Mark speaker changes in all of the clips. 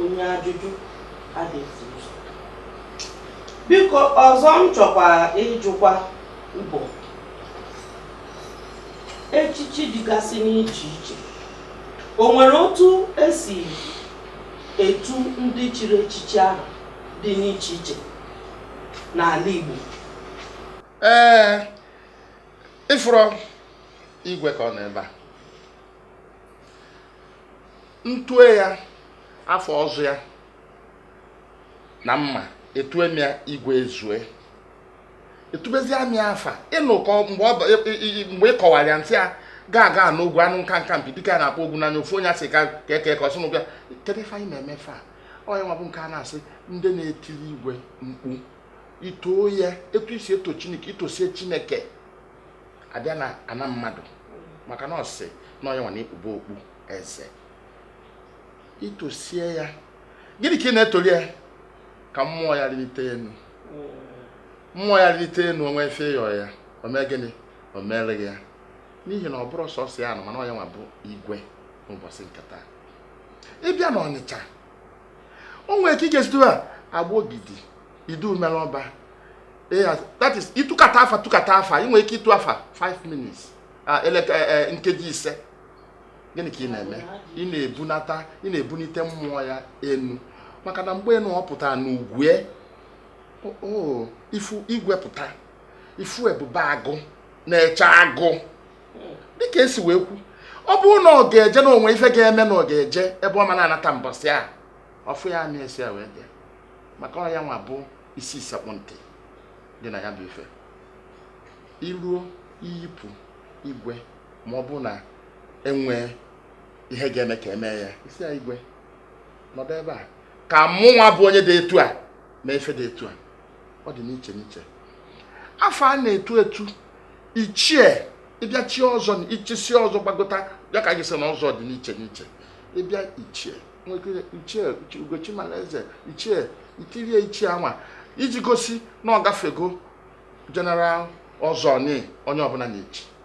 Speaker 1: onye ajụjụ adịghị ụzọ biko ọzọ m chọkwa ịjụkwa bụ echichi dịgasị n'iche iche o nwere otu esi etu ndị chiri echichi ahụ dị n'iche iche n'ala Igbo ee
Speaker 2: ị fụrọ igwe ka ọ nọ ebe a m tue ya afa ọzọ ya na mma etue m ya igwe ezue itubezia m afa ị nụ ka mgbe ị kọwara ya m sị ya gaga n'ogwu anụ nka nka mpi dike a na-akpa ọgwụ n'anya ofu onye asị ka eke ka ọsụnụ bịa kedu ife anyị na-eme fa ọ ya nwa bụ nke a na-asị ndị na-etiri igwe mkpu itoo ya etu isi eto chineke itosie chineke abịa na ana mmadụ maka na ọ sị na ọ ya nwa na-ekpube okpu eze itosie ya gịnị ka ị na-etoli ya ka mmụọ ya rite enu mmụọ ya rite enu o nwee ife ị yọ ya o mee gịnị o meere gị ya n'ihi na ọ bụrụ sọsọ ya nọ mana ọ ya nwa bụ igwe n'ụbọchị nke taa ị bịa na ọnịcha o nwere ka ị ga-esi tue ya agbogidi idu mere ọba that is ịtụkata afa tụkata afa ị nwere ike ịtụ afa 5 minutes ah, eh, eh, nkeji ise gịnị ka ị na-eme ị na-ebunata ị na-ebunite mmụọ ya enu maka na mgbe na ọ pụtara n'igwe ị fụ igwe pụta ị fụ ebube agụ na-eche agụ dịka esi wee kwu ọ bụrụ na ọ ga-eje na o nwe ife ga-eme na ọ ga-eje ebe ọ ma na-anata mbọsị a ọfụ ya na esi ya wee bịa maka ọ ya nwa bụ isi sekpụ ntị dị na ya bụ ife iruo iyipụ igwe ma ọ bụ na enwee ihe ga-eme ka emee ya ị sị ya igwe nọdụ ebe a ka mụ nwa bụ onye dị etu a mee ife dị etu a ọ dị n'iche n'iche afa a na-etu etu ichie ị bịa chie ọzọ na ị chisie ọzọ gbagota ya ka gị sị na ọzọ dị n'iche n'iche ị bịa ichie ichie ugochimalaeze ichie itirie ichie anwa iji gosi na ọ gafego general ọzọ onye ọbụna na-echi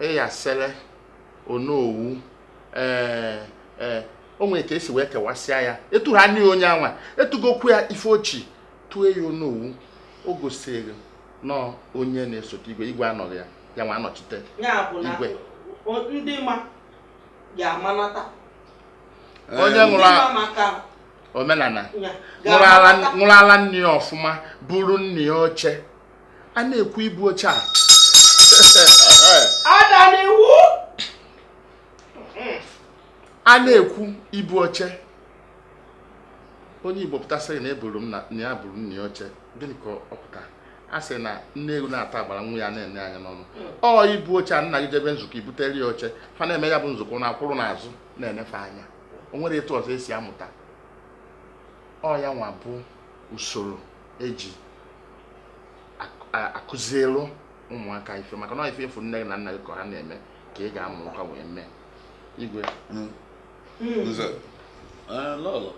Speaker 1: iyasele onowu ee ee o nwere ka esi wee kewasịa ya etu ha n'ihi onye anwa etugokwu ya ife o chi tue ya onowu o gosiri na onye na-esote igwe igwe anọghị ya ya nwa anọchite igwe ndị ma
Speaker 2: ga-amanata onye nwụrụ omenala nwụrụ ala nne ya ọfụma buru nna ya oche a na-ekwu ibu oche a a na-ekwu ibu oche onye igbo pụta sị na eburu m na ya buru nna ya oche gịnị ka ọ pụta a sị na nne ewu na-ata agbara nwa ya na-ene anya n'ọnụ ọ ibu oche a nna gị jebe nzukọ i butere ya oche fa na-eme ya bụ nzukọ na-akwụrụ n'azụ na-enefe anya o nwere etu ọzọ esi amụta ọ ya nwa bụ usoro e ji akụzielu ụmụaka ife maka na ife ị fụ nne gị na nna gị ka ha na-eme ka ị ga-amụkwa wee mee igwe
Speaker 3: hmm. Hmm. nze eh, lọlọ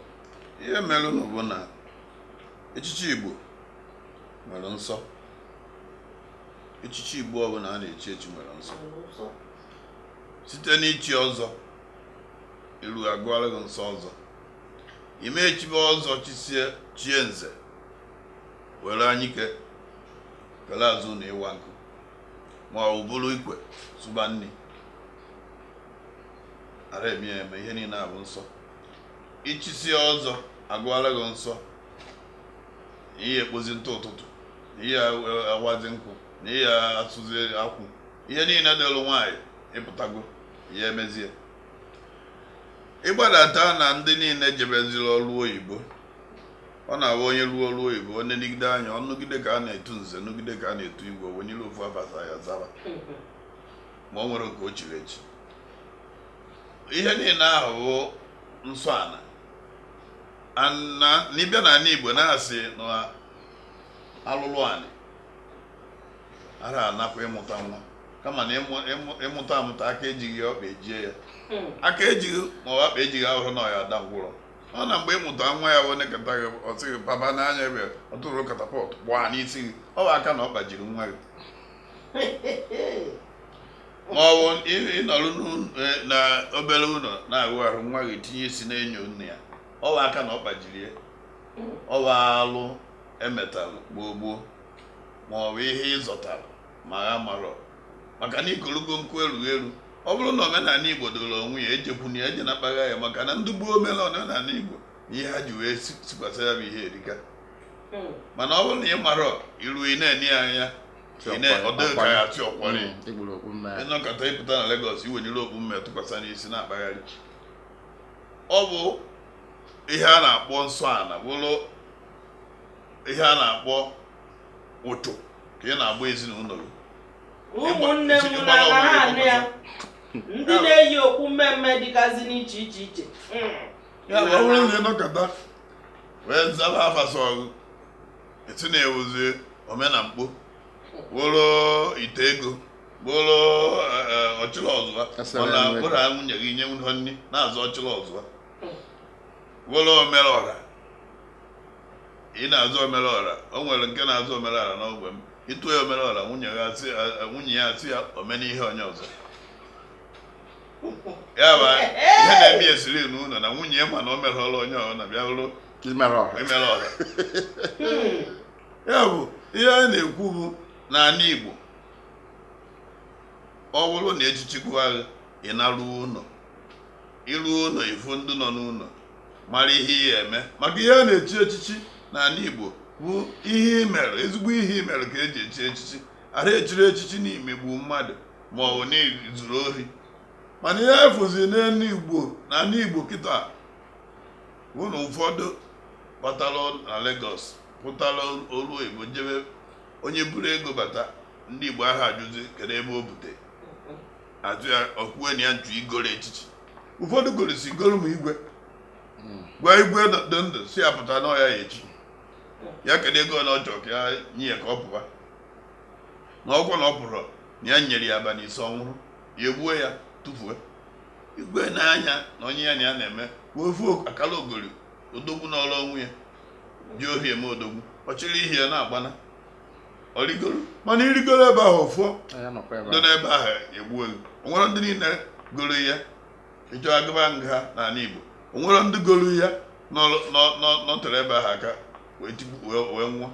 Speaker 3: ihe merenụ bụ na echichi igbo nwere nsọ echichi igbo ọbụla a na-echi echi nwere nsọ site n'ichi ọzọ i ruo a gụọla gị nsọ ọzọ i mee chibe ọzọ chisie chie nze were anyike kele azụ na ịwa nkụ ma o buru ikwe sụba nni ara eme ya eme ihe niile a bụ nsọ i chisie ọzọ a gụọla gị nsọ ị ya-ekpozi ntụ ụtụtụ na ị ya-awazi nkụ na ị ya-asụzi akwụ ihe niile dịlụ nwaanyị ị pụtago ya emezie ị gbadata na ndị niile jebeziri ọrụ oyibo ọ na-abụ onye rụọ ọrụ oyibo o negide anya ọ nụgide ka a na-etu nze nụgide ka a na-etu igwe o wenie ofu ava sọ ya zaba ma o nwere nke o chiri echi ihe niile ahụ bụ nsọ ana na ị bịa na ala igbo na-asị na alụlụ anị ara anakwa ịmụta nwa kama na ị mụta amụta aka ejighị ya ọkpa ejie ya hmm. aka ejighị ma ọkpa ejighị abụrọ na ọ ya-ada ngwụrọ ọ na mgbe ị mụta nwa ya wee nekata gị ọ sị gị papa nee anya ebe ọ tụrụ katapọt gbaa n'isi gị ọ bụ aka na ọ gbajiri nwa gị ma ọ bụ ị nọrọ e, na obere ụlọ na-awụ ahụ nwa gị tinye isi na-enyo nne ya ọ bụ aka na ọ gbajiri ya ọ bụ alụ e metalụ gboo gboo ma ọ bụ ihe ị zọtara ma ha marọ maka na ikologo nkụ erughị eru ọ bụrụ na omenala igbo doro onwe ya ejekwuna ya eje na kpagha ya maka na ndị gboo mere omenala igbo ihe ha ji wee si- sikwasa ya bụ ihe erika Mm. mana ọ bụrụ na ị marọ iru ị na-ene ya anya ị na- ọ dịghị ka ya tị ọkwari Egburu okpu mme ya. ịnọkọta ịpụta na Lagos iwenyere okpu mme tụkwasị n'isi na-akpagharị ọ bụ ihe a na-akpọ nsọ ana bụrụ ihe a na-akpọ uchu ka ị na-agba ezinụlọ gị
Speaker 4: ụmụnne m na anụ ya ndị na-eyi okpu mmemme dịgazi n'iche iche iche ya
Speaker 3: bụ ọ bụrụ na ịnọkọta wee zaba afa sọ gị esi na-ewuzi omenamkpo bụrụ ite ego bụrụ e, e, ọchịrị ọzụa mana bụrụ nwunye gị i nyerọ nni na-aza ọchịrị ọzụa bụrụ omere ọra Ị na-aza omereọra, o nwere nke na-aza omereọra n'ogbe m. Ịtụ ya omereọra, nwunye ya asị ya ome n'ihe onye ọzọ. Ya bụ ihe na-eme ya esiri n'ụlọ na nwunye ya ma na o merọla onye ọzọ na bịa bụrụ omere ọra. Ya bụ ihe a na-ekwu bụ n'ala Igbo ọ bụrụ na echichi gụwa gị, ị naruo ụlọ. Iruo ụlọ, ifu ndị nọ n'ụlọ. mara ihe ị ya-eme maka ihe a na-echi echichi n'ala Igbo bụ ihe imere ezigbo ihe imere ka eji echi echichi ara echiri echichi n'imegbu mmadụ ma ọ bụ n'izuru ohi mana ihe a fụzi n'ala Igbo na ala Igbo kịta bụ na ụfọdụ batara na Lagos pụtara ọlụ oyibo jebe onye buru ego bata ndị Igbo ara ajụzi kedu ebe o bute ajụ ya o kwuwe na ya na-achọ igoro echichi ụfọdụ goro si goro m igwe hmm. gwa igwe dị ndụ sị ya pụta n'ọ ya ya-echi ya kedu ego na ọ chọ ka ya nye ya ka ọ pụwa na ọkwa na ọ pụrọ na ya nyere ya abalị ise ọ nwụrọ ya egbuo ya tụfuo igwe n'anya na onye ya na ya na-eme wee ofu akala ogori odogwu n'ọrụ ọnwụ ya ji ohi eme odogwu ọ chịrị ihe ya na-agbana ọ rigoro mana irigoro ebe ahụ ọfọ dị n'ebe ahụ egbuo gị o nwere ndị niile goro ya echi agaba nga n'ala Igbo o nwere ndị goro ya nọterọ ebe ahụ aka wee nwụọ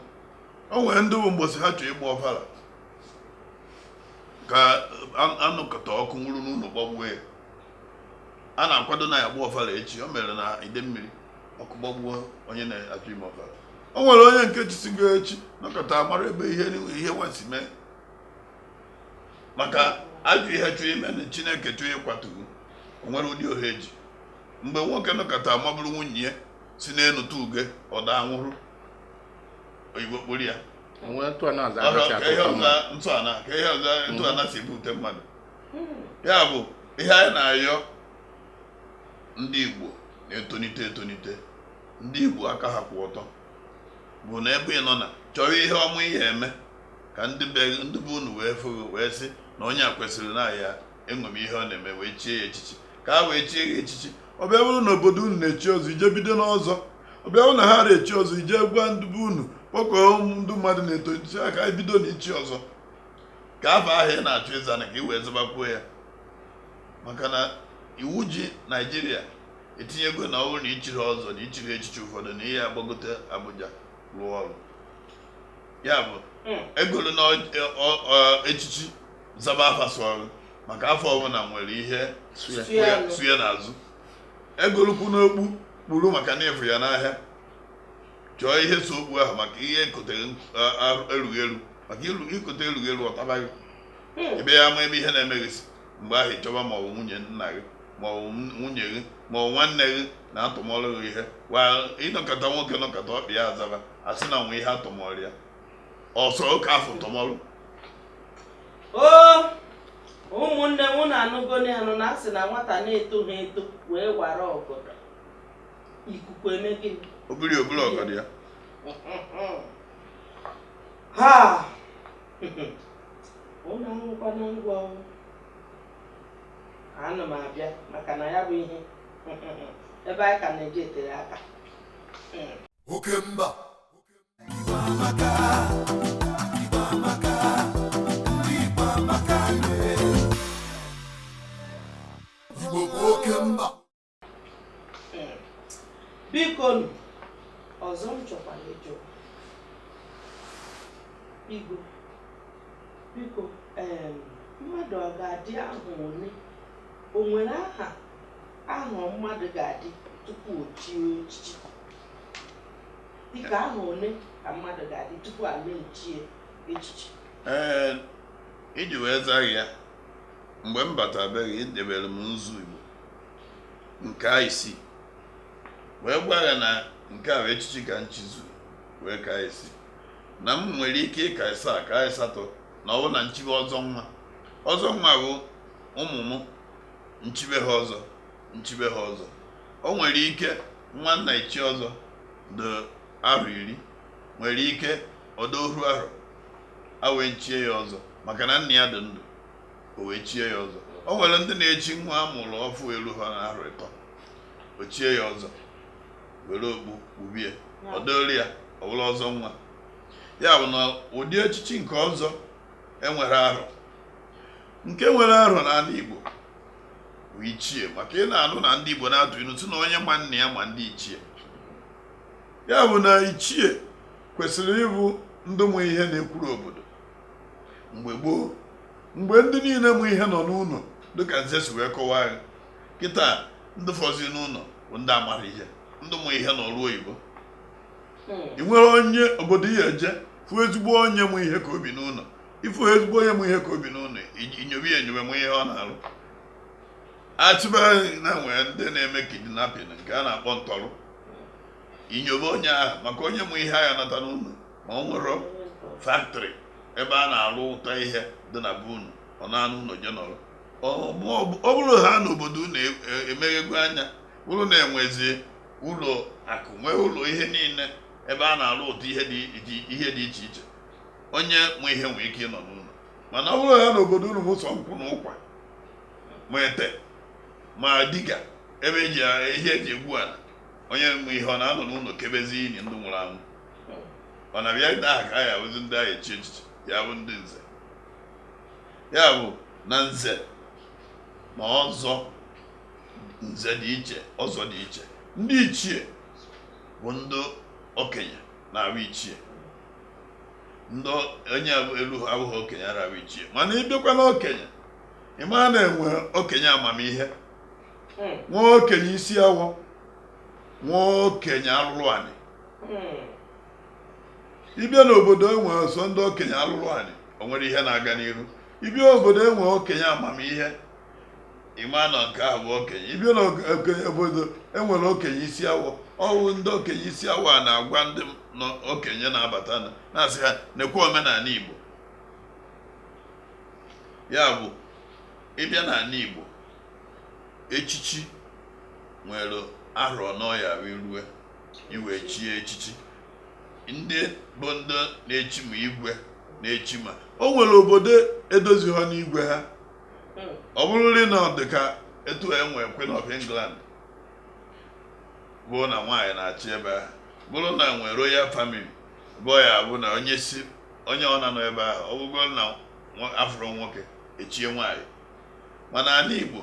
Speaker 3: o nwere ndị bụ mbọsị ha chọrọ ịgba ọfala ka a nụkọta ọkụ nwụrụ n'ụlọ gbagbuo ya a na-akwado na ya gba ọfala echi o mere na Idemili ọkụ gbagbuo onye na-achọ ime ọbara o nwere onye nke chisigo echi nọkata mara ebe ihe ihe nwesi mee maka ajọ ihe chọọ ime na chineke chọọ ịkwatu o nwere ụdị ohe ji mgbe nwoke nọkata maburu nwunye ya si n'elu tụ uge ọ daa nwụrụ oyibo kpụrụ ya ntụ ana si ebute mmadụ ya bụ ihe anyị na-ayọ ndị Igbo na-etonite etonite ndị Igbo aka ha kwụ ọtọ bụ na ebe ị nọ na-achọrọ ihe ọma ị ya-eme ka ndị be ndị be unu wee fụ gị wee sị na onye a kwesịrị na a ya-eṅomi ihe ọ na-eme wee chie ya echichi ka ha wee chie ya echichi ọ bịa bụrụ na obodo unu na-echi ọzọ i je bido n'ọzọ ọ bịa bụrụ na ha na-echi ọzọ i je gwa ndị be unu kpọkọọ ndị mmadụ na-etolite ka e bido na ichi ọzọ ka afa ahụ ị na-achọ ịza na ka ị wee zabakwuo ya maka na iwu ji naijiria etinyego na ọ bụrụ na i chiri ọzọ na i chiri echichi ụfọdụ na ị ya-agbagote abuja rụọ ọrụ ya bụ hmm. egoluna echichi zaba afa sụọrụ maka afa ọbụla nwere ihe so ya n'azụ egolukwana okpu kpuru maka na ị fụ ya n'ahịa chọọ ihe so okpu ahụ maka ihe e kotere erughị eru maka i kote erughị eru ọ taba gị hmm. ebe ya ama ebe ihe na-eme gị si mgbe ahụ ị chọba ma ọ bụ nwunye nna gị ma ọ bụ nwunye gị ma ọ bụ nwanne gị na atụmọrụ gị ihe wa ị nọkata nwoke nọkata ọkpa ya azaba a sị na nwe ihe atụmọrụ ya ọsọ oke afọ tụmọrụ o
Speaker 4: ụmụnne m unu anụgonu anụ na a sị na nwata na-etoghị eto wee wara ọgọdọ ikuku eme gịnị o buru o buru ọgọdọ
Speaker 3: ya
Speaker 4: ha unu anụkwanụ ngwa ana m abịa maka na ya bụ ihe ebe anyị ka na-eje tere aka
Speaker 5: oke mba Igbo amaka, Igbo amaka, ndị Igbo amaka, yeah. Igbo bụ oke mba
Speaker 4: biko nụ ọzọ m chọkwara ịjụ igwe biko mmadụ ọ ga-adị aha ole o nwere aha aha mmadụ ga-adị tupu o chie echichi dịka aha ole ka mmadụ ga-adị tupu a na-echie echichi ee
Speaker 3: iji wee zaa gị ya mgbe m batabeghị edebere m nzu igbo nke isii wee gwa ya na nke a bụ echichi ka m chizu wee ka isii na m nwere ike ịka ịsaa ka ịsatọ na ọ bụ na m chibe ọzọ nwa ọzọ nwa bụ ụmụ m m chibe ha ọzọ m chibe ha ọzọ o nwere ike nwa na-echi ọzọ dị arọ iri nwere ike ọ dị oru arọ e wee chie ya ọzọ maka na nna ya dị ndụ o wee chie ya ọzọ o nwere ndị na-echi nwa a mụrụ ọfụ elu ha na arọ ịtọ o chie ya ọzọ were okpu kpubie ọ dịrị ya ọ bụla ọzọ nwa ya bụ na ụdị echichi nke ọzọ e nwere arọ nke nwere arọ n'ala Igbo bụ ichie maka ị na-anụ na ndị Igbo na-atụ ilu sị na onye ma nna ya ma ndị ichie ya bụ na ichie kwesịrị ịbụ ndị mụ ihe na-ekwuru obodo mgbe gboo mgbe ndị niile mụ ihe nọ n'ụlọ dịka nze si wee kọwaa ya kịta ndị fọzi n'ụlọ bụ ndị amara ihe ndị mụ ihe nọ n'ọrụ oyibo i nwere onye obodo ị ya-eje fụ ezigbo onye mụ ihe ka o bi n'ụlọ ị fụ ezigbo onye mụ ihe ka o bi n'ụlọ i nyobe ya enyobe mụ ihe ọ na-arụ achịba na e nwere ndị na-eme kidnapping nke a na-akpọ ntọrọ i nyobe onye ahụ maka onye mụ ihe agha nata n'ụlọ ma o nwere factory ebe a na-arụpụta ihe dị na be unu ọ na-anọ ụlọ je nọrọ ọ bụrụ ha n'obodo unu e, e, emeghego anya unu na-enwezi ụlọ akụ nwee ụlọ ihe niile ebe a na-arụpụta ihe dị iche iche onye mụ ihe nwee ike ịnọ n'ụlọ mana ọ bụrụ ha na obodo unu bụ sọ nkwụ na ụkwa ma ete ma diga ebe ihe e ji egbu ala onye mụ ihe ọ na-anọ n'ụlọ kebezi ini ndị nwụrụ anwụ mana bịa taa ka ya bụzi ndị a ya-echi echichi ya bụ ndị nze ya bụ na nze na ọzọ nze dị iche ọzọ dị iche ndị ichie bụ ndị okenye na-abụ ichie ndị onye elu abụghị okenye arabụ ichie mana ị bịakwa na okenye ị ma na e nwe okenye amamihe nwee okenye isi awọ nwee okenye alụlụ anị ị bịa n'obodo e nwe sọ ndị okenye alụlụ anị o nwere ihe na-aga n'ihu ị bịa obodo e nwe okenye amamihe ị ma na nke ahụ bụ okenye ị bịa n'obodo e nwere okenye isi awọ ọ wụ ndị okenye isi awọ a na-agwa ndị okenye na-abata na-asị ha nekwa omenanị igbo ya bụ ị bịa n'anị igbo echichi nwere arọ n'ọya rue igwe chie echichi ndị bụ ndị na-echi ma igwe na-echi ma o nwere obodo edozi ha n'igwe ha hmm. ọ bụrụrị na ọ dị ka etu enwe Queen of England bụ na nwaanyị na-achị ebe ahụ bụrụ na enwe royal family bụ ya bụ na onye si onye ọ na-anọ ebe ahụ ọ bụgo na afụrọ nwoke echie nwaanyị mana ala Igbo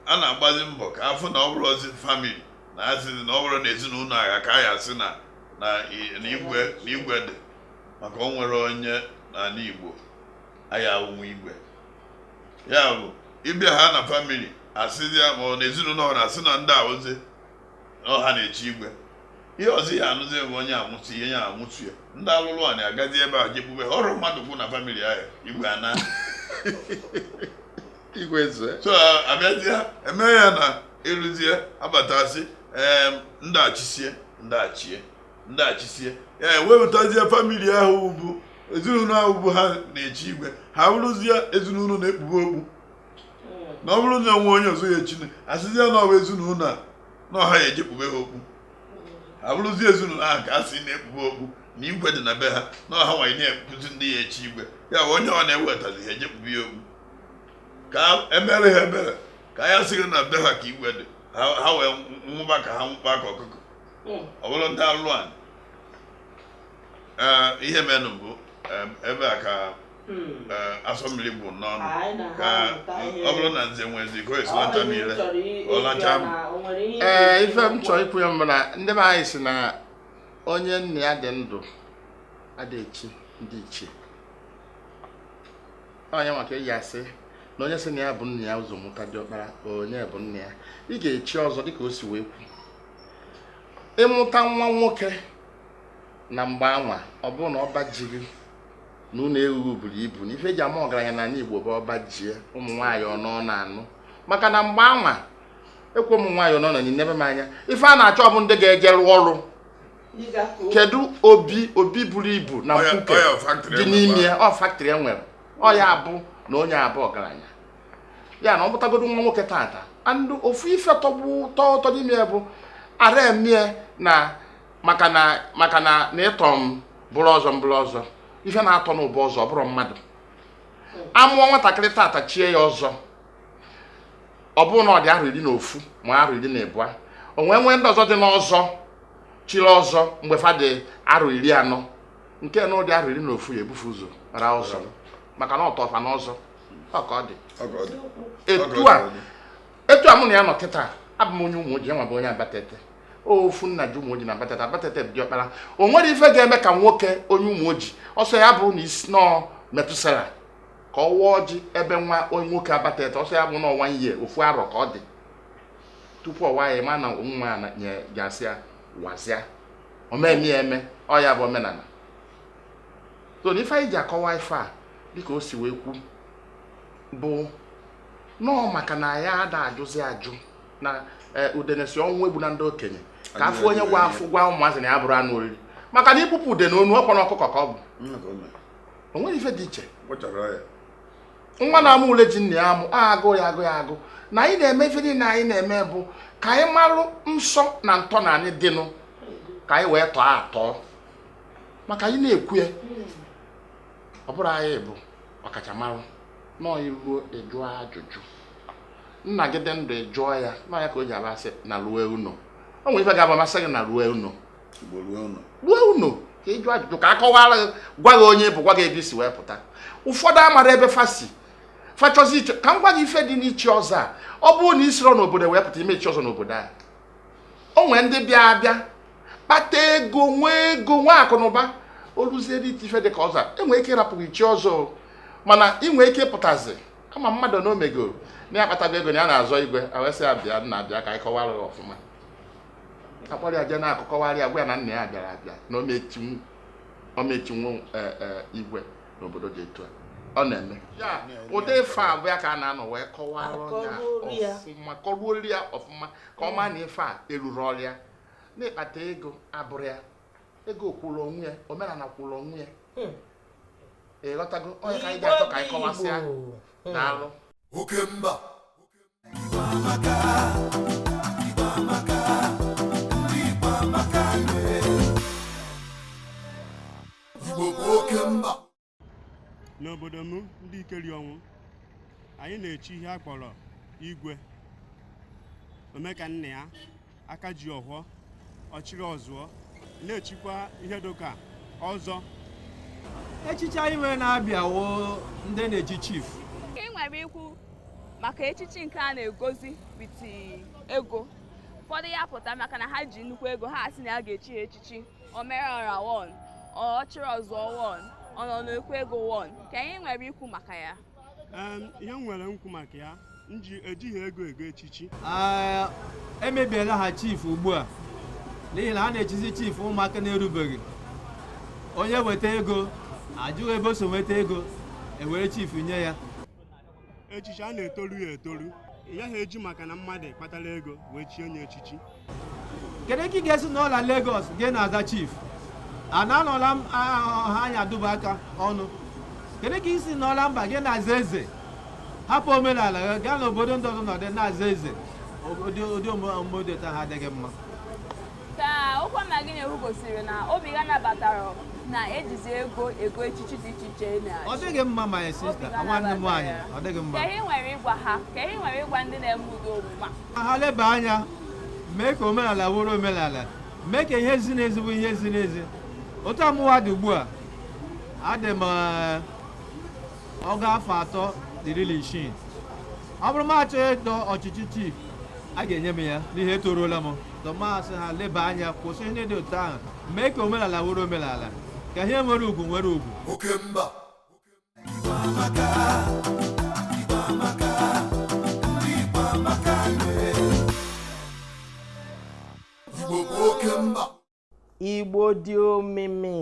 Speaker 3: a na-agbazi mbọ ka afụ na ọ bụrụzi family na asịzi na ọ bụrụ na ezinụlọ a ka a ya-asị na na igwe na igwe dị maka o nwere onye n'ala Igbo aya ụmụ igwe ya bụ ịbịa ha na family asịzi ya ma ọ na ezinụlọ ahụ asị na ndị a wụzi ọ ha na-echi igwe ihe ọzọ ya anụzi bụ onye amụtụ ihe ya amụtụ ya ndị alụlụ ana agazie ebe a je kpube ofu mmadụ okpu na family ahụ igwe ana
Speaker 2: igwe zue so
Speaker 3: abịazie eme ya na eruzie abatazi ndị a chisie ndị a chie ndị a chisie ya ewepụtazie family ahụ bụ ezinụlọ ahụ bụ ha na-echi igwe ha bụrụzie ezinụlọ na-ekpube okpu na ọ bụrụ na o nwee onye ọzọ ya echine asịzie na ọ wụ ezinụlọ a na ọ ha ya-eje kpube ha okpu ha bụrụzi ezinụlọ ahụ ka a sị na-ekpube okpu na igwe dị na be ha na ọ ha nwanyị na-ekpuzi ndị ya echi igwe ya onye ọ na-ewetazi ha eje kpube ya okpu ka emere ha ebere ka a ya-asị na be ha ka igwe dị ha wee nwụba ka ha nwụkpa ka ọkụkọ hmm. ọ bụrụ ndị alụlụ anị ihe menụ bụ ebe a ka Hmm. Eh, asọ mmiri bụ n'ọnụ ka ọ bụrụ na nze nwee ezi ka esilata niile ọlacha m ee
Speaker 2: eh, ife m chọọ ikwu ya bụ na ndị be anyị sị na onye nna ya dị ndụ adịghị echi ndị ichie onye maka eji asị na onye sị na ya bu nna ya ụzọ mụta diọkpara onye bụ nna ya ị ga-echi ọzọ dịka o si wee kwu ịmụta nwa nwoke na mgbe anwa ọ bụrụ na ọba ji gị na ụlọ ewu buru ibu na ife eji ama ọgaranya n'ala Igbo bụ ọba ji ya ụmụ nwaanyị one ọ na-anụ maka na mgbe anwa ekwe ụmụ nwaanyị unu na-enebe m anya ife a na-achọ bụ ndị ga-eje rụọ ọrụ kedu obi obi buru ibu na mkpuke dị n'ime ya ọ factory e nwere ọ ya bụ na onye a bụ ọgaranya ya na ọ mụtagodo nwa nwoke tata and ofu ife tọgbu tọọ ụtọ n'ime ya bụ ara emie na maka na maka na na ịtọ m bụrụ ọzọ m bụrụ ọzọ ife na-atọ n'ụba ọzọ ọ bụrụ mmadụ amụọ nwatakịrị tata chie ya ọzọ ọ bụrụ na ọ dị arọ iri na ofu ma arọ iri na ịbụa o wee nwee ndị ọzọ dị n'ọzọ chiri ọzọ mgbe fa dị arọ iri anọ nke na ọ dị arọ iri na ofu ya ebu fa ụzọ ra ọzọ maka na ọ tọ fa na ọzọ ọ ka ọ dị etu a etu a mụ na ya nọ kịta abụ m onye ụmụoji nwa a bụ onye abatete ofu nna ji ụmụoji na abatete abatete bụ diọkpara o nwerọ ife ga-eme ka nwoke onye ụmụoji ọ sọ ya bụrụ na isi nọọ metusela ka ọ waa ọjị ebe nwa onye nwoke abatete ọ sọ ya bụ n'ọnwa ihe ofu arọ ka ọ dị tupu ọ waa ya mana nwa ya na- nye- ga-asị ya wazịa o meme ya eme ọ ya bụ omenala so na ife anyị ji akọwa ife a dịka o si wee kwu bụ nọọ maka na ya ada ajụzi ajụ na eh, udene sị ọnwụ egbuna ndị okenye ka a fụ onye ga-afọ gwa ụmụazị na ya abụrọ anụ oriri maka na i gbupụ udene onu ọ kpọ na ọkụkọ ka ọ bụ o nwerọ ife dị iche nwa na-amụ ule ji nna ya amụ agụ ya agụ ya agụ na anyị na-eme ife niile anyị na-eme bụ ka anyị marụ nsọ na ntọana anyị dịnụ ka anyị wee tọọ atọ maka anyị na-ekwu ya ọ bụrọ anyị bụ ọkachamara nọọ i ruo ị jụọ ajụjụ nna gị dị ndụ ị jụọ ya na ọ ya ka o ji aba asị na ruo ụnọ o nwere ife ga-abụ ma a sị gị na ruo ụnọ ruo ụnọ ka ị jụọ ajụjụ ka a kọwara gị gwa gị onye ị bụ gwa gị ebe i si wee pụta ụfọdụ amarọ ebe fa si fa chọzie ichi ka m gwa gị ife dị n'ichi ọzọ a ọ bụrụ na i sirọ n'obodo wee pụta ị ma-echi ọzọ n'obodo a o nwee ndị bịa abịa kpata ego nwee ego nwee akụ na ụba o luzie dị ife dị ka ọzọ e nwee ike ịrapụ gị chi ọzọ mana ị nwee ike pụtazi ama mmadụ na o megoro na ya akpatago ego na ya na-azọ igwe a wee sị ya bịa nna bịa ka anyị kọwara ọfụma a kpọrọ ya jee n'akụkụ kọwarị ya gwa ya na nna ya bịara abịa na ọ ma-echinwu e, e, igwe n'obodo dị etu a ọ na-eme ya ụdị ife a bụ ya ka a na-anọ wee kọwara ya ọfụma kọruori ya ọfụma ka ọ maa na ife a erurọrị ya na ịkpata ego abụrọ ya ego kwụrụ onwe ya omenala kwụrụ onwe ya hmm. ị ghọtago ọ ya ka anyị ga-achọ ka anyị kọwasịa hmm. daalụ oke mba
Speaker 6: n'obodo m ndị ikeriọnwụ anyị na-echi ihe a kpọrọ igwe ome ka nna ya aka ji ọhọ ọchịrị ọzụọ na-echikwa ihe dịka
Speaker 7: ọzọ echichi anyị nwere na-abịa wụ ndị na-echi chief ka ị nwere ikwu
Speaker 8: maka echichi nke a na-egozi with ego ụfọdụ ya pụta maka na ha ji nnukwu ego ha asị na ya ga-echi ha echichi o mere ọra one ọchịrị ọzụọ one ọ nọ n'ukwu ego one gịnị ị nwere ikwu maka ya ihe
Speaker 6: m nwere ikwu maka ya ejighị ego ego
Speaker 7: echichi emebiela ha chief ugbu a n'ihi na a na-echizi chief ụmụaka na-erubeghị onye weta ego ajụghị ebe o si nweta ego ewere chief nye ya echichi
Speaker 6: a na-etoru ya etoru ị gaghị eji maka na mmadụ kpatara ego wee chie onye echichi
Speaker 7: kedu ka ị ga-esi nọla Lagos gị na-aza chief a na-anọla m ha anya duba aka ọnụ kedu ka i si nọla mba gị na-aza eze hapụ omenala gị gaa n'obodo ndị ọzọ nọdụ na-aza eze ụdị omume dị otu ahụ adịghị mma
Speaker 8: ka okwu ọma gị na-ekwu gosiri na obi gị anabatarọ na ejizi ego ego echichi dị iche iche na ọ dịghị mma my
Speaker 7: sister nwanne m nwaanyị ọ dịghị mma kee ihe i nwere ịgwa ha
Speaker 8: kee ihe i nwere ịgwa ndị na-eme ụdị omume ha leba
Speaker 7: anya mee ka omenala wụrụ omenala mee ka ihe ziri ezi bụ ihe ziri ezi otu a mụwa dị ugbu a adị m eh, ọgụ afọ atọ na iri na isii ọ bụrụ m achọghị ịdọ ọchịchị chief a ga-enye m ya n'ihi etoruola m tọ m asị ha leba anya kwụsị ihe dị otu ahụ mee ka omenala wụrụ omenala ka ihe nwere ugwu nwere ugwu oke mba
Speaker 5: igbo
Speaker 4: dị omimi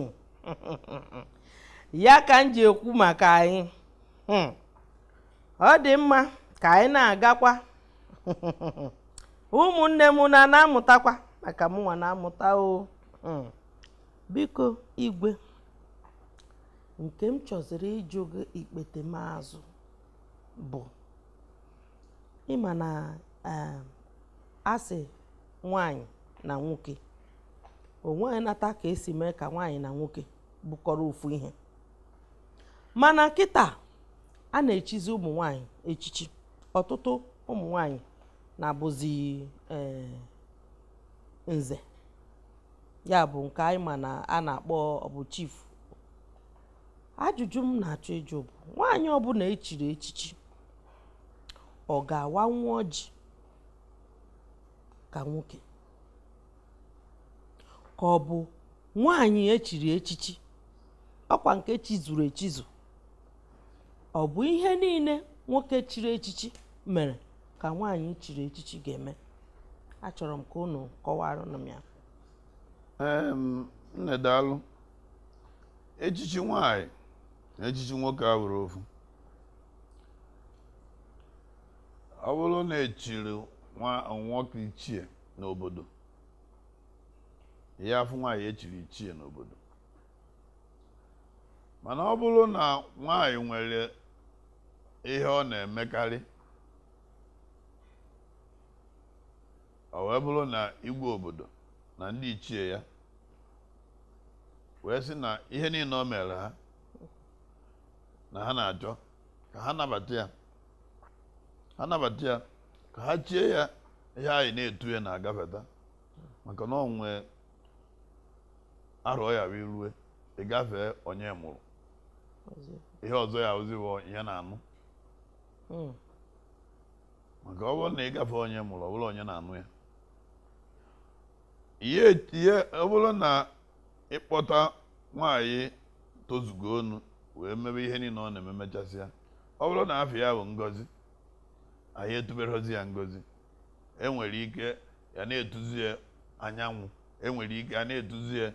Speaker 4: ya ka m ji ekwu maka anyị hmm. ọ dị mma ka anyị na-agakwa ụmụnne m na na-amụtakwa maka mụnwa na-amụta o hmm. biko igwe nke m chọziri ịjụ gị ikpetemazụ bụ ị ma na eh, a sị nwanyị na nwoke onweghị nata ka esi mee ka nwaanyị na nwoke bụkọrọ ofu ihe mana kịta a na-echizi ụmụ nwanyị echichi ọtụtụ ụmụ nwanyị na-abụzi eh, nze ya bụ nke anyị ma na a na-akpọ bụ chief ajụjụ m na-achọ ịjụ bụ nwaanyị ọbụla echiri echichi ọ ga-awanwu ọjị ka nwoke ka ọ bụ nwaanyị echiri echichi ọkwa nke echizuru echizu ọ bụ ihe niile nwoke chiri echichi mere ka nwaanyị chiri echichi ga-eme achọrọ m ka unu kọwara m
Speaker 3: ya nne daalụ echichi nwaanyị na echichi nwoke abụrọ ofu ọ bụrụ na echiri nwoke ichie n'obodo ya afụ nwaanyị echiri ichie n'obodo mana ọ bụrụ na nwaanyị nwere ihe ọ na-emekarị ọ wee bụrụ na igwe obodo na ndị ichie ya wee sị na ihe niile o mere ha na ha na-achọ ka ha nabata ya ha nabata ya ka ha chie ya ihe anyị na-etu ya na-agafeta maka na o nwee arọ ya wee rue ịgafee onye mụrụ ihe ọzọ ya ozi bụ onye na-anụ hmm. maka ọ bụrụ na ị gafe onye mụrụ ọ bụrụ onye na-anụ ya ihe ọ bụrụ na ịkpọta nwaanyị tozugo onu wee mebe ihe niile ọ na-eme mechasịa ọ bụrụ na afa ya bụ ngozi anyị etuberọzi ya ngozi enwere ike ya na-etuzi ya anyanwụ enwere ike a na-etuzi ya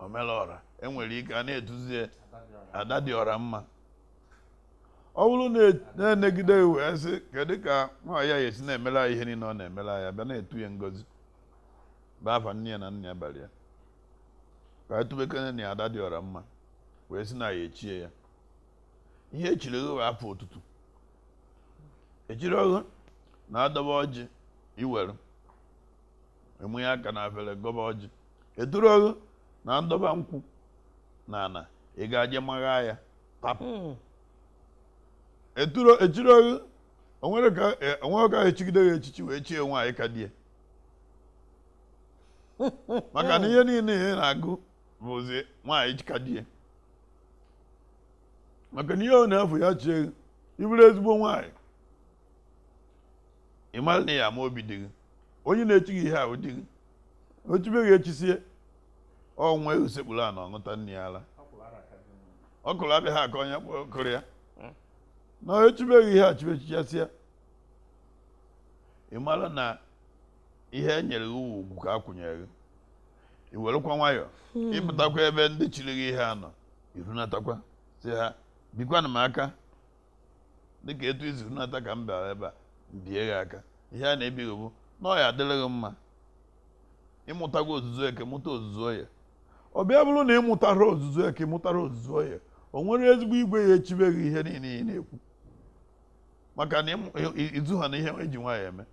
Speaker 3: omelọra enwere ike a na-etuzi ya ada dị ọra mma ọ bụrụ na enegide wee sị kedu ka nwaanyị ya esi na-emere ihe niile ọ na-emere ya bịa na-etu ya ngozi bụ afa nne ya na nna ya bara ya ka etubekene na ada dị ọra mma wee sị na ya echie ya ihe echiri gị bụ afa otutu echirọ ghụ na adọba ọjị iwere mịa aka na afere gọba ọjị eturọ ghụ na ndọba nkwụ na ana ị ga-aje magha ya hmm. echirọ gị o nwere ka echigide ya echichi wee chie nwaanyị ka die maka na ihe niile ị na-agụ bụzi nwaanyị ka die maka na ihe ọ na-abụ ya chie ị bụrụ ezigbo nwaanyị ị mara na ị ya ama obi di gị onye na-echi gị ihe a wụ di gị o chibe gị echisie nwa eghu sekpuru ana ọ ṅụta nne ya ala ọkwụrụ adịghị aka onye kụrụ ya na echibe gị ihe a chibe chichasịa ị mara na ihe e nyere gị wụ ugwu ka a kwụnyere gị i werekwa nwayọọ hmm. ịpụtakwa ebe ndị chiri gị ihe a nọ irunatakwa sị ha bikwanụ m aka dịka etu izuru nata ka m bịara ebe a mbie gị aka ihe a na-ebi gị bụ na ọ ya adịrị gị mma ịmụtago ozuzu eke mụta ozuzu oye ọ bịa bụrụ na ịmụtara ozuzu eke mụtara ozuzu oye o nwere ezigbo igwe ya echibe gị ihe niile ị na-ekwu maka na izu ha na ihe eji nwaanyị eme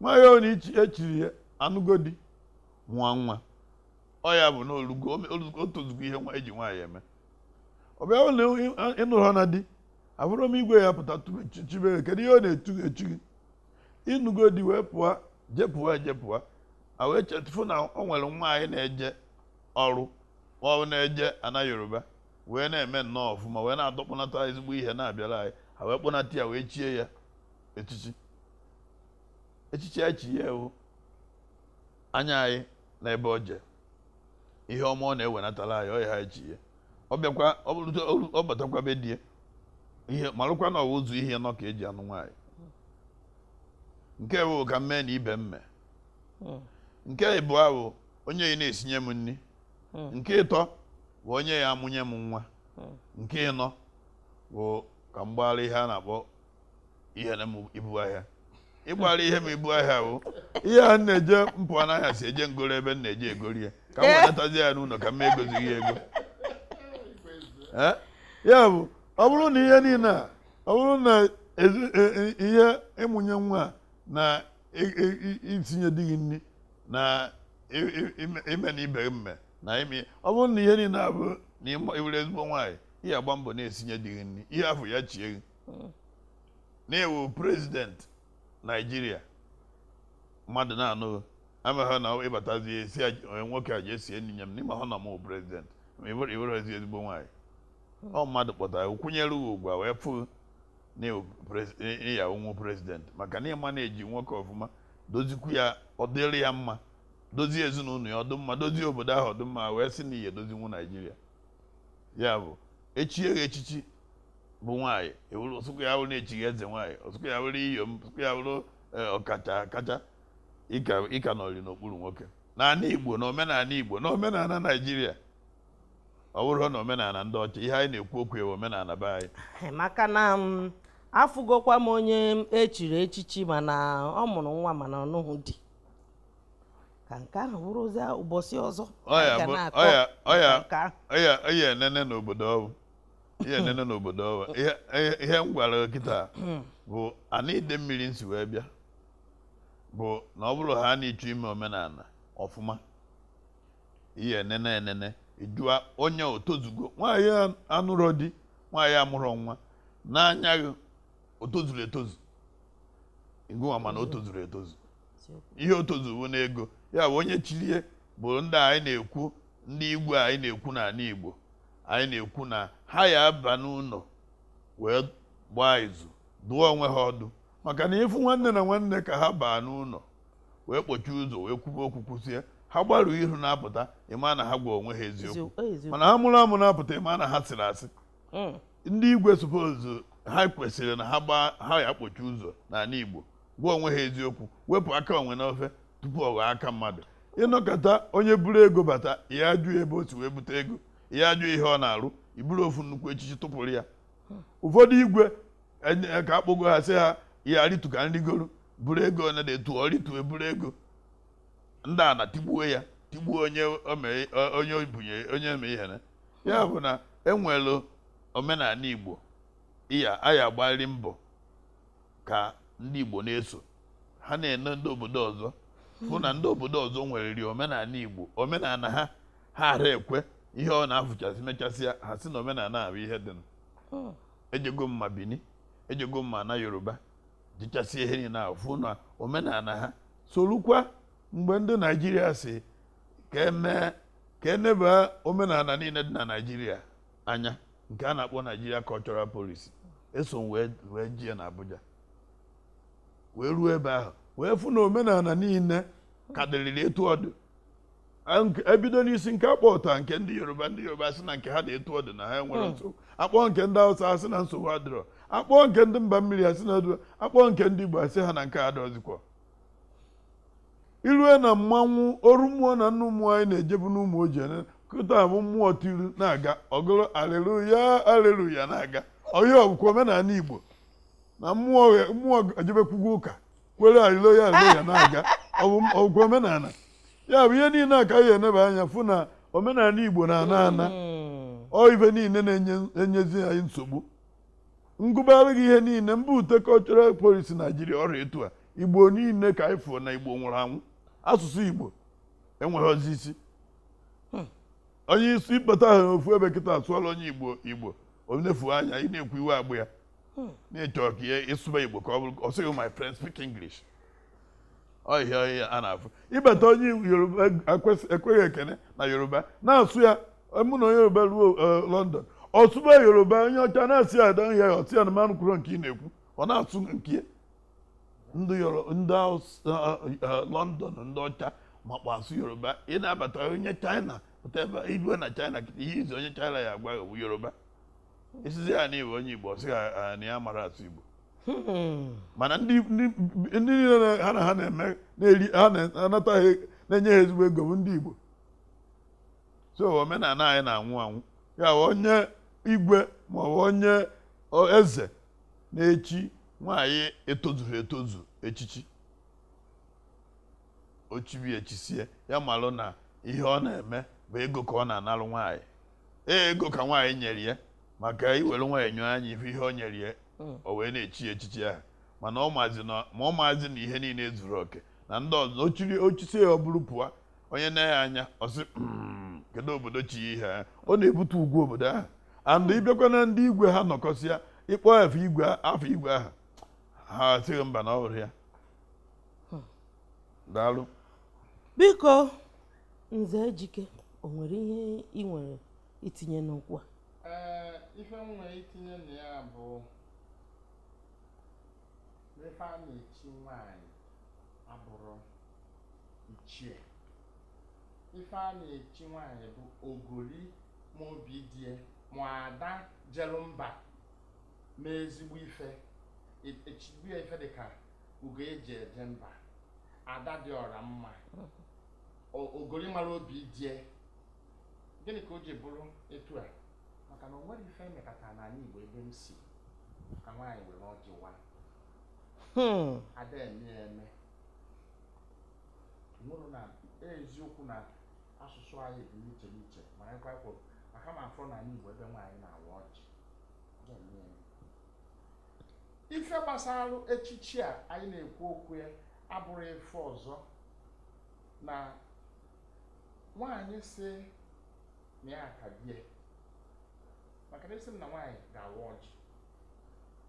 Speaker 3: nwaanyị a na echiri ya anụgo di nwa nwa ọ ya bụ na o lugo o tozugo ihe eji nwaanyị eme ọ bịa bụrụ na ịnụhọna di ahụrọ m igwe ya pụta chibe gị kedu ihe ọ na-etu echi gị ịnụgo di wee pụọ jepụwa ejepụwa a wee chetụfụ na ọ nwere nwa anyị na-eje ọrụ ọ na-eje ana yoruba wee na-eme nnọọ ọfụma wee na-adọkpụnata ezigbo ihe na-abịara anyị a wee kpọnata ya wee chie ya echichi echichi anyị chi ya wụ anya anyị na ebe ọ jee ihe ọma ọ na-ewenatara anyị ọ ya ha chi ya ọ bịakwa ọ batakwa be di ya malụkwa na ọ wụ ụzọ ihe anọ ka eji anụ nwaanyị nke mbụ ka m mee na ibe m mee hmm. nke ịbụa bụ onye ya na-esinye m nri hmm. nke ịtọ bụ onye ya amụnye m nwa hmm. nke ịnọ bụ ka m gbaara ihe a na-akpọ ihe na m ibu ahịa ịgbara ihe m ibu ahịa bụ ihe a na-eje mpụ n'ahịa si eje ngoro ebe m na-eje egori ya ka m Eh. wenatazi ya n'ụlọ ka m egozighị ya ego Eh? ya bụ ọ bụrụ na ihe niile a ọ bụrụ na ezi- e- e- ihe ịmụnye nwa a na i- i- i- isinye di gị nri na i- i- ime- ime na ibe gị mme na ime ọ bụrụ na ihe niile a bụ na ịma- ịbụrụ ezigbo nwaanyị ị ya agba mbọ na-esinye di gị nri ị ya afụ ya chie gị hmm. na ị wụ president naijiria mmadụ na-anụ amaghị na ịbatazi esinye nwoke a ji esie nri nye m n'ime ahụ na m president ị wụrụzi ezigbo nwaanyị hmm. ọ mmadụ kpọtara kwanyere ụ ugwu a wee fụ na ị ya awụnwu president maka na ị manage nwoke ọfụma dozikwu ya ọ dịrị ya mma dozie ezinụlọ ya ọ dị mma dozie obodo ahụ ọ dị mma wee sị na ị ya edozinwu naijiria ya bụ echie gị echichi bụ nwaanyị wụrụ ọ sọkwa ya wụrụ na echi gị eze nwaanyị ọ sọkwa ya wụrụ iyom ọ sọkwa ya wụrụ eh, ọkacha kacha ịka nọrị n'okpuru nwoke n'ala Igbo na omenala Igbo na omenala Naijiria ọ bụrọ na omenala ndị ọcha ihe anyị na-ekwu okwu ya wụ omenala be anyị eh, maka na
Speaker 4: mm, afụgokwa m onye echiri echichi mana ọ mụrụ nwa mana ọ nụghị di ka nke ahụ bụrụzie ụbọchị ọzọ ọ
Speaker 3: ya enene n'obodo ọbụ ihe nene n'obodo ọ bụ ihe m gwara gị kịta bụ ana idemmiri m si wee bịa bụ na ọ bụrụ ha na ị chọọ ime omenala ọfụma ihe enene enene ịjụa onye o tozugo nwaanyị anụrọ di nwaanyị amụrọ nwa n'anya gị o tozuru etozu ngị nwa ma na o tozuru etozu ihe o tozu bụ n'ego ya bụ onye chilie bụ ndị anyị na-ekwu ndị igwe anyị na-ekwu n'ala Igbo anyị na-ekwu na ha ya aba n'ụlọ wee gbaa izu dụọ onwe ha ọdụ maka na ị fụ nwanne na nwanne ka ha baa n'ụlọ wee kpọchie ụzọ wee kwube okwu kwusie ha gbarụ ihu na-apụta ị ma na ha gwa onwe ha eziokwu mana ha mụrụ amụ na-apụta ị ma na ha sịrị asị hmm. ndị igwe suppose ha kwesịrị na ha ya akpọchi ụzọ n'ala Igbo gwa onwe ha eziokwu wepụ aka enwe n'ofe tupu ọ ghọọ aka mmadụ ị nọkata onye buru ego bata ya ajụ ebe o si wee bute ego ya ajụ ihe ọ na-arụ i buru ofu nnukwu echichi tụpụrụ ya ụfọdụ igwe e, ka akpọgo ha sị ha ya rịtu ka m rịgoro buru ego onye na-etu ọ rịtu e buru ego ndị a na tigbuo ya tigbuo onye onye obunye onye eme ihere ya bụ na e nwelu omenala igbo iya aya agbalị mbọ ka ndị igbo na-eso ha na-ene ndị obodo ọzọ fụ na ndị obodo ọzọ nwereri omenala igbo omenala ha ha ara ekwe ihe ọ na-afụchasị mechasịa ha sị na omenala bụ ihe dị hmm. ejego m ma bini ejego m ma na yoruba jichasịa ihe niile ahụ fụ na omenala ha sorukwa mgbe ndị naijiria sị ka e mee ka e neba omenala niile dị na naijiria anya nke a na-akpọ nigeria cultural policy eso m wee jie na abuja wee ruo ebe ahụ wee fụ na omenala niile ka dịrịrị etu ọ dị A- nke- ebido n'isi nke a kpọpụta nke ndị yoruba ndị yoruba sị na nke ha dị etu ọ dị na ha enwerọ nsogbu a kpọọ nke ndị hausa a sị na nsogbu adịrọ a kpọọ nke ndị mba mmiri a sị na ọ dụ a kpọọ nke ndị igbo a sị ha na nke ha adọzikwa i rue na mmanwụ oru mmụọ na nnụ mmụọ anyị na-ejebu n'ụmụoji ene kịta bụ mmụọ tiri na-aga ọ gụrụ aleluya aleluya na-aga ihe a ọ bụkwa omenala igbo na mmụọ ghe- mmụọ ejebekwugo ụka kwere aleluya aleluya na-aga ọ bụkwa omenala ya bụ ihe niile a ka anyị eneba anya fụ na omenala igbo na-ana ana ọ ife niile na-enyezi anyị nsogbu m gụbara gị ihe niile m bute cultural policy naijiria ọ ra etu a igbo niile ka anyị fụọ na igbo nwụrụ anwụ asụsụ igbo enweghịzi isi hmm. onye isi ịkpata ha n'ofu ebe kịta a sụọla onye igbo igbo o nefu anya ị na-ekwu iwe agbụ ya hmm. na-achọ ka ya ị sụba igbo ka ọ bụrụ ọ sị gị my friend speak english ọhịa ọhịa a na-afụ ịbata onye yoruba ekweghị ekene na yoruba na-asụ ya mụ na onye yoruba ruo e, london ọ sụba yoruba onye ọcha na-asị ya ada ya ọ sị ya na m anụkwuru nke ị na-ekwu ọ na-asụ nke ndị london ndị ọcha makwa asụ yoruba ị na-abata onye china pụta ebe igwe na china ihe izi onye china ya agwa yoruba ị sịzị ya na Igbo onye Igbo sị ya na ya mara asụ Igbo hmm. mana ndị niile ha na ha na-eme ha na-anata ha na-enye ha ezigbo ego bụ ndị Igbo so omenala anyị na-anwụ anwụ ya bụ onye igwe ma ọ bụ onye eze na-echi nwaanyị etozughị etozu echichi o chibe echisie ya malụ na ihe ọ na-eme bụ ego ka ọ na-analụ nwaanyị ee ego ka nwaanyị nyere ya maka i were nwayọọ nyọọ anya ị fụ ihe o nyere ya hmm. o wee na-echi echichi ahụ mana ọ maazị na ma ọ maazị na ihe niile zuru oke na ndị ọzọ o chiri o chisie ya o buru pụọ onye na ya anya ọ sị hmm, kedu obodo chi ihe a ọ na-ebutu ugwu obodo ahụ and ị bịakwa na ndị igwe ha nọkọsịa ị kpọọ afa igwe afa igwe ahụ ha asị gị mba na ọ bụrọ ya hmm. daalụ biko
Speaker 4: Nze Ejike, o nwere ihe ị nwere itinye n'okwu a? Ee, ife m
Speaker 2: nwere itinye na ya bụ na ife a na-echi nwaanyị abụrọ ichie. Ife a na-echi nwaanyị bụ ogoli ma obi di ya ma ada jelu mba mee ezigbo ife. E- Echigbu ya ife dị ka ugo eji eje mba ada dị ọra mma ogori mara obi die gịnị ka o ji bụrụ etu a maka na o nwere ife emekata n'anị Igbo ebe m si ka nwaanyị were ọjị wa hmm. a da eme ya eme ọ bụrụ na eziokwu na asụsụ anyị dị n'iche n'iche ma anyị kwakwo maka m afụrọ n'anị Igbo ebe nwaanyị na-awa ọjị ife gbasara echichi a anyị na-ekwu okwu ya abụrụ ife ọzọ na nwaanyị sị na ya ka die maka na esi m na nwaanyị ga-awa ọjị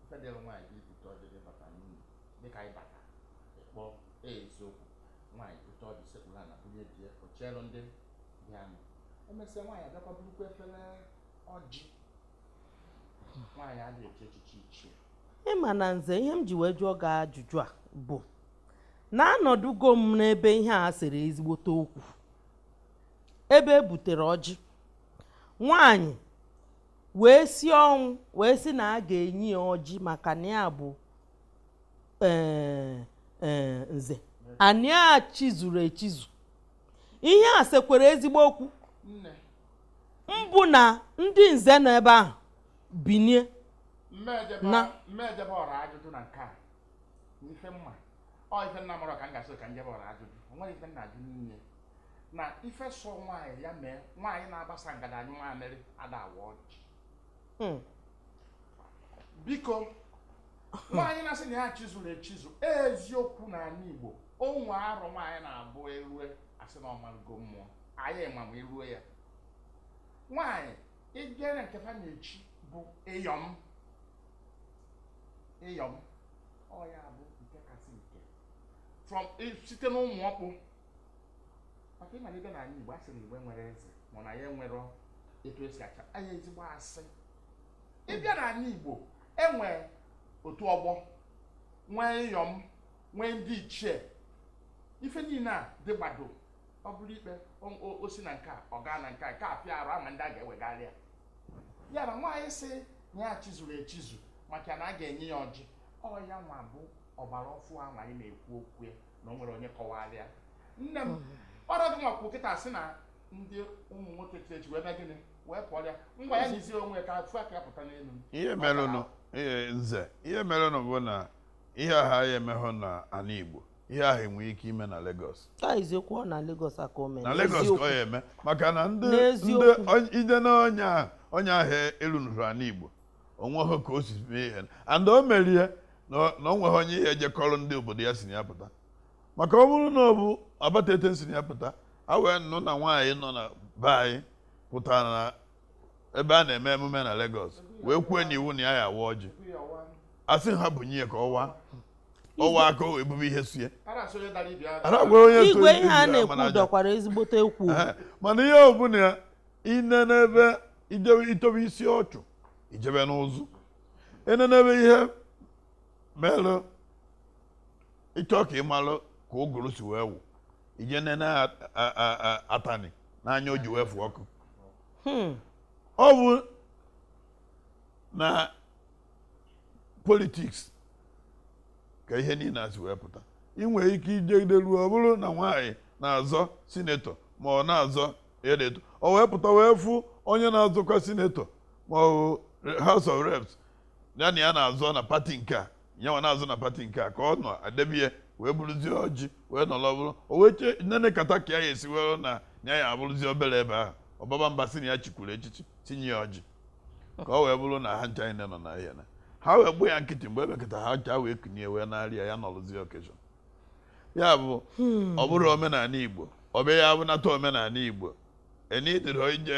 Speaker 2: ife dịrị nwaanyị bụ ibute ọjị di bata n'ụlọ dịka anyị bata ịkpọ eziokwu nwaanyị bute ọjị sekpulu ana bunye die o cheelu ndị bịanụ emesịa nwaanyị abịakwa burukwa efere ọjị ịma na
Speaker 4: nze ihe m ji wee jụọ gị ajụjụ a bụ na anọdụgo m n'ebe ihe a sere ezigbote okwu ebe e butere ọjị nwanyị wee si ọnwụ wee sị na a ga-enye ya ọjị maka na ya bụ e, e, nze na ya chizuru echizu ihe a sekwara ezigbo okwu mbụ na ndị nze nọ ebe ahụ binie
Speaker 2: na mmejebe ọra ajụjụ na nke a n'ife mma ọ ife nna mụrụ ka m gasị ka njebe ọra ajụjụ o nwere ife nna ajụ niile na ife sọ nwaanyị ya mee nwaanyị na-agbasa ngada anyụ nwaamịrị ada awa ọjị hmm. biko nwaanyị na-asị na ya chizuru echizu eziokwu na anị Igbo o nwee arọ nwaanyị na-abụ erue a sị na ọ marụgo mmụọ anyị ma ma eruo ya nwaanyị nwere nke fa na-echi bụ iyom iyom ọ ya bụ nke kasị nke from site na ụmụ ọkpụ maka ị mara ị bịa na anị igbo a sị na igbo enwerọ eze mana ya e nwere etu e si achị anị igbo a sị ị bịa na anị igbo e nwee otu ọgbọ nwee iyom nwee ndị ichie ife niile a dị gbado ọ bụrụ ikpe o si na nke a ọ gaa na nke a nke a pịa arụ ama ndị a ga-ewegharị ya ya na nwaanyị sị na ya chizuru echizu maka na a ga-enye ya ọjị ọ ya nwa bụ ọgbara ọfụụ ahụ anyị na-ekwu okwu ya na o nwere onye kọwara ya nne m hmm. ọrụ gị nwakwụ kịta sị na ndị ụmụ nwoke chiri echi wee mee gịnị wee pụọ ya ngwa ya nyizie onwe ka a fụ aka ya pụta n'elu ihe merenụ nze
Speaker 3: ihe merenụ bụ na ihe ahụ a ya-emehọ na anị Igbo ihe ahụ nwee ike ime na Lagos eziokwu ọ na
Speaker 4: Lagos ka o me na Lagos ka ọ ya-eme
Speaker 3: maka na ndị ide na onye ahụ onye ahụ erunuru anị Igbo o nweghị ka o si mee ihe and o merie na o nweghị onye ihe ejekọrọ ndị obodo ya si na ya pụta maka ọ bụrụ na ọ bụ Abatete si na ya pụta a wee nụ na nwaanyị nọ na be anyị pụtara na ebe a na-eme emume na Lagos wee kwue n'iwu na ya ya-awa ọjị a sị ha bunye ya ka ọ waa ọ waa aka o ebube ihe sie ara gwara onye so igwe
Speaker 4: ihe a e jiri na-ekwu amara aja. dọkwara ezigbote ekwu Ehe, mana ihe
Speaker 3: ọ bụla ya i nenebe i jewe i tobe isi ọchụ i jebe n'ụzọ i nenebe ihe melụ ị chọọ ka ị malụ ka ụgụrụ si wee wụ ije nene atani n'anya o ji wee fụ ọkụ hmm. ọ bụ na politiks ka ihe niile a si wee pụta ị nwere ike ijegide ruo ọ bụrụ na nwaanyị na-azọ sinetọ ma ọ na-azọ edeto o wee pụta wee fụ onye na-azọkwa sinetọ ma ọ House of Reps ya na ya na-azọ na pati nke a nyanwa na-azọ na pati nke a ka ọ nọ adebie wee bụrụzie ọjị wee nọrọ bụrụ o wee chee nene kata ka ya esi were na ya ya abụrụzie obere ebe ahụ ọbaba mba si na ya chikwuru echichi tinye ya ọjị ka o wee bụrụ na ha ncha niile nọ na ahịa na ha wee gbuo ya nkịtị mgbe ebekọta ha ncha wee kunye wee na-arịa ya nọrụzie okeshọn ya bụ hmm. ọ bụrọ omenala igbo ọ bụ ya bụ na taa omenala igbo enidịrị ije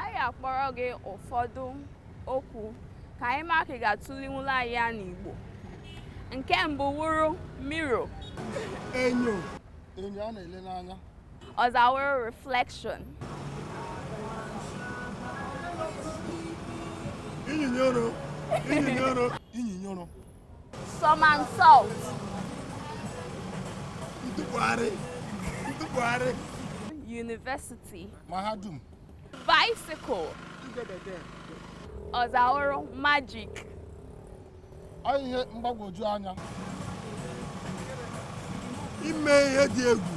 Speaker 8: anyị akpọrọ gị ụfọdụ okwu ka anyị ma ka ị ga-atụlinwula anyị ya n'Igbo nke mbụ wụrụ mirror enyo
Speaker 1: enyo a na-ele n'anya ọzọ
Speaker 8: wụrụ
Speaker 1: reflection inyinyoro inyinyoro inyinyoro
Speaker 8: Somersault.
Speaker 1: Ntụgharị. Ntụgharị.
Speaker 8: University. Mahadum.
Speaker 1: Bicycle.
Speaker 8: Ọzọ wụrụ
Speaker 1: magic. Ọ ihe mgbagwoju anya. Ime ihe dị egwu.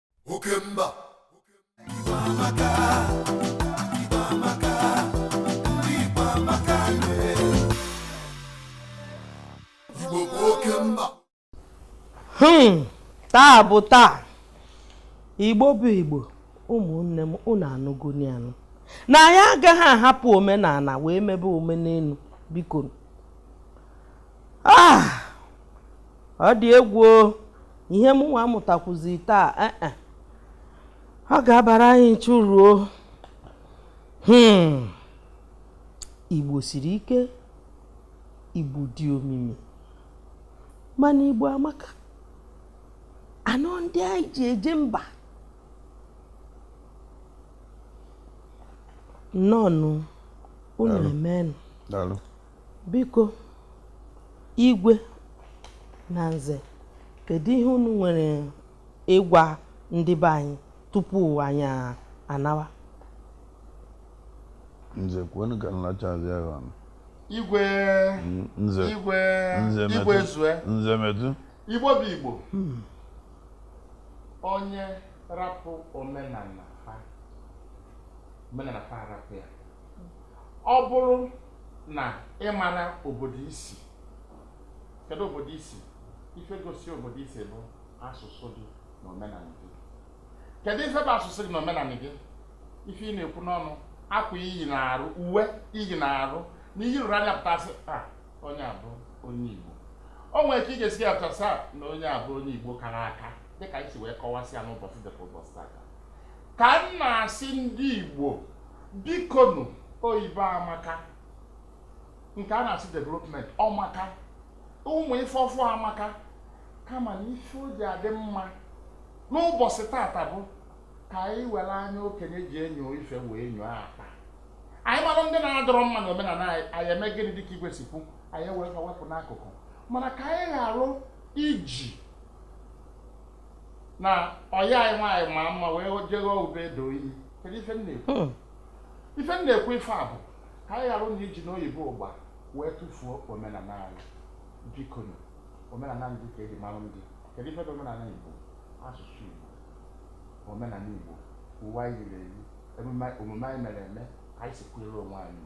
Speaker 1: oke mba Igbo amaka, Igbo amaka, ndị Igbo amaka nwee. Igbo bụ oke mba Hmm,
Speaker 4: taa bụ taa igbo bụ igbo ụmụnne m unu anụgoni anụ na anyị agaghị ahapụ omenala wee mebe omenelu biko ah! ọ dị egwu ihe m nwa mụtakwuzi taa eh, eh. ọ ga-abara anyị ncha uru o hmm. igbo siri ike igbo dị omimi mana igbo amaka anọ ndị anyị ji eje mba nnọọnụ unu emenụ Biko, Igwe na Nze, kedu ihe unu nwere ịgwa ndị be anyị tupu anyị anawa?
Speaker 3: Nze, kwenu ka m lachazi agha ọnụ. Igwe, Nze, Igwe,
Speaker 2: Nze Igwe metụ, zue. Nze
Speaker 3: metụ. Igbo bụ
Speaker 2: Igbo. Onye rapụ omenala fa, omenala fa arapụ ya. ọ bụrụ na ị mara obodo i si kedu obodo i si ife gosi obodo i si bụ asụsụ gị na omenala gị kedu ife bụ asụsụ gị na omenala gị ife ị na-ekwu n'ọnụ akwa i yi n'arụ uwe i yi n'arụ na i yi rụrụ anya pụtasịa onye a bụ onye igbo o nwere ka ị ga-esi ya pụtasịa na onye a bụ onye igbo kara aka dịka i si wee kọwasịa n'ụbọchị dịka ụbọchị taa ka m na-asị ndị igbo bikonu oyibo amaka nke a na-asị development ọ maka ụmụ ife ọfụ amaka kama na ife o ji adị mma n'ụbọchị tata bụ ka anyị were anya okenye ji enyo ife wee nyoo akpa anyị mara ndị na-adịrọ mma na omenala anyị anyị eme gịnị dịka igwe si kwu anyị ewere fa wepụ n'akụkụ mana ka anyị ghara iji na ọyị anyị nwaanyị ma mma wee jego ube doo iyi kedu ife m na-ekwu hmm. ife m na-ekwu ife a bụ ka anyị ghara na iji n'oyibo ụgba wee tụfuo omenala anyị biko omenala ndị ka e ji mara ndị kedu ife bụ omenala igbo asụsụ igbo omenala igbo uwe anyị yiri eyi omume anyị mere eme ka anyị si kwere onwe anyị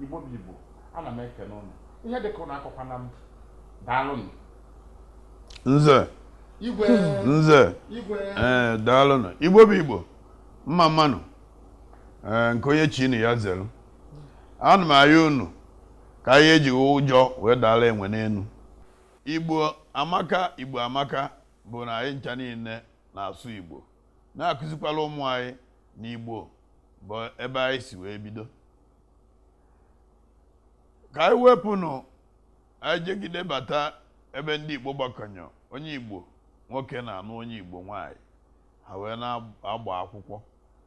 Speaker 2: igbo bụ igbo ana m ekene ụnụ ihe dịka ụnụ akọkwana m daalụnụ
Speaker 3: nze nze ee eh, daalụnụ igbo bụ igbo mma mma nụ ee eh, nke onye chilu ya zelu ana m ayọ unu ka anyị eji ụjọ wee daala enwe n'enu igbo amaka igbo amaka bụ na anyị ncha niile na-asụ igbo na-akụzikwala ụmụ anyị na igbo bụ ebe anyị si wee bido ka anyị wepụnụ anyị jegide bata ebe ndị Igbo gbakọnyọ onye Igbo nwoke na-anụ onye Igbo nwaanyị ha wee na-agba akwụkwọ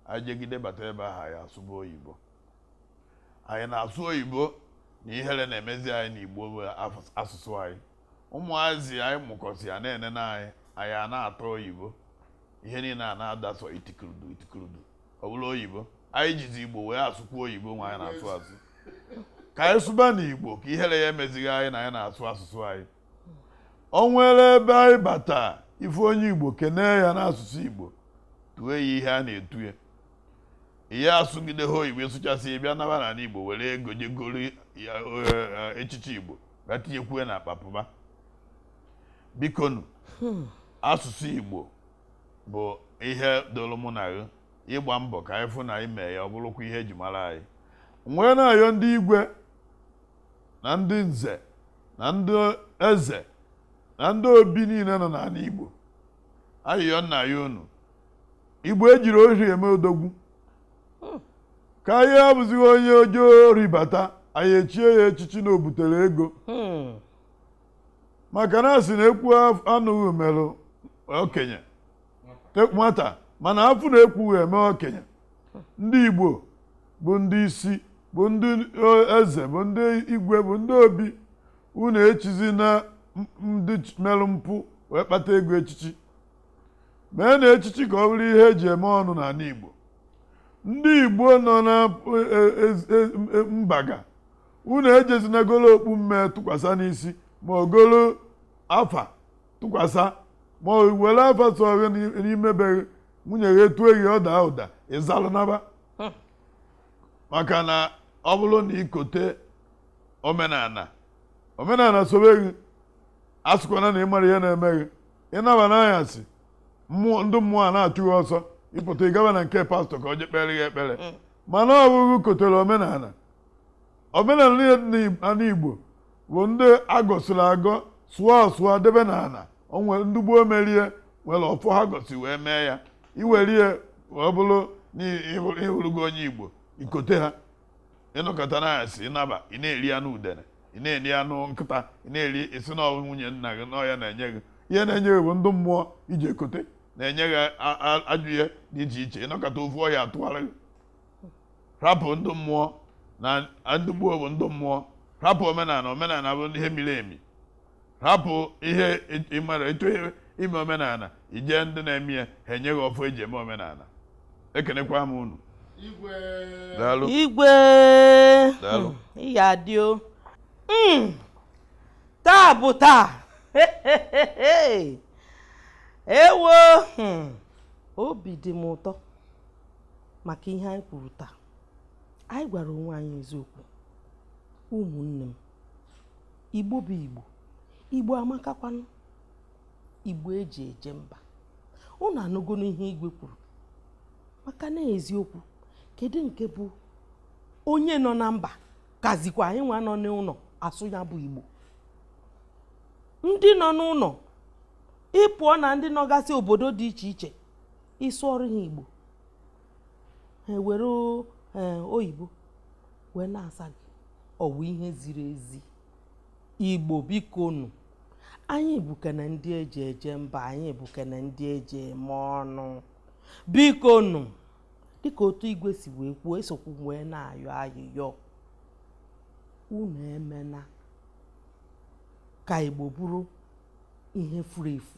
Speaker 3: anyị jegide bata ebe ahụ anyị asụba oyibo anyị na-asụ oyibo na ihere na-emezi anyị na Igbo bụ asụsụ anyị ụmụazị anyị mụkọsịa na-enene anyị anyị a na-atọ oyibo ihe niile a na-ada sọ itikuludu itikuludu ọ bụrụ oyibo anyị jizi igbo wee asụkwu oyibo nwa anyị na-asụ asụ ka anyị sụba n'igbo ka ihere ya emezighị anyị na anyị na-asụ asụsụ anyị o nwere ebe anyị bata ị fụ onye igbo kenee ya n'asụsụ igbo tue ya ihe a na-etu ya ihe asụgide ha oyibo ị sụchasịa bịa naba n'ala igbo were ego je goro ya eh, echichi igbo bịa tinyekwue n'akpa pụba bikonu asụsụ igbo bụ ihe dịrị mụ na gị ịgba mbọ ka anyị fụ na anyị mee ya ọ bụrụkwa ihe eji mara anyị wee na-ayọ ndị igwe na ndị nze na ndị eze na ndị obi niile nọ n'ala igbo ayịyọ m na-ayọ unu igbo ejirọ ori eme odogwu ka anyị abụzighị onye zuo ori bata anyị echie ya echichi na o butere ego Hmm. maka na a sị na ekwu anụghị merụ okenye nwata mana afụ na ekwughị eme okenye ndị Igbo bụ ndị isi bụ ndị eze bụ ndị igwe bụ ndị obi unu echizina ndị merụ mpụ wee kpata ego echichi meenụ echichi ka ọ bụrụ ihe eji eme ọnụ n'ala Igbo ndị Igbo nọ na e, e, e, mbaga unu ejezina golo okpu mme tụkwasa n'isi ma ọ golo afa tụkwasa ma were afa sọ gị n'ime be gị nwunye gị etue gị ọ daa ụda ị zalụ naba hmm. maka na ọ bụrụ na i kote omenala omenala sobe gị asịkwana na ị marọ ihe na-eme gị ị naba n'anyasị mmụọ ndị mmụọ a na-achụ gị ọsọ ị pụta ị gaba na nke pastọ ka o je kpere gị ekpere hmm. mana ọ bụ gị kotere omenala omenala niile dị n'ala Igbo bụ ndị a gọsịrị agọ sụọ asụọ debe n'ala o nwere ndị gboo mere ya were ọfọ ha gọsị wee mee ya i were ya wee bụrụ na ị hụrụ- ị hụrụgo onye Igbo i kote ha ị nọkata n'anyasị ị naba ị na-eri anụ udene ị na-eri anụ nkịta ị na-eri ị sị na ọ wụ nwunye nna gị na ọ ya na-enye gị ihe na-enye gị bụ ndị mmụọ i jee kote na-enye gị a- a- ajọ ihe dị iche iche ị nọkata ofu ọya atụgharị gị rapụ ndị mmụọ na ndị gboo bụ ndị mmụọ rapụ omenala omenala bụ ihe miri emi rapụ ihe ị marọ etu ime omenala i je ndị na-eme ya ha enye gị ọfọ eji eme omenala ekenekwa m unu igwe igwe ị
Speaker 4: ga-adị o hmm. taa bụ taa ewo hmm. obi dị m ụtọ maka ihe anyị kwuru taa anyị gwara onwe anyị eziokwu ụmụnne m igbo bụ igbo igbo amakakwanụ igbo eji eje mba unu anụgonụ ihe igwe kwuru maka na eziokwu kedu nke bụ onye nọ na mba kazikwa anyị nwa nọ n'ụlọ asụ ya bụ igbo ndị nọ n'ụlọ ị pụọ na ndị nọgasị obodo dị iche iche ị sụọrọ ha igbo ha ewere eh, oyibo wee na-asa gị ọ wụ ihe ziri ezi igbo biko nụ anyị bụkwanụ ndị eji eje mba anyị bụkwanụ ndị eji eme ọnụ biko nụ dịka otu igwe si wee kwuo esokwu wee na-ayọ ayịyọ unu emena ka igbo bụrụ ihe furu efu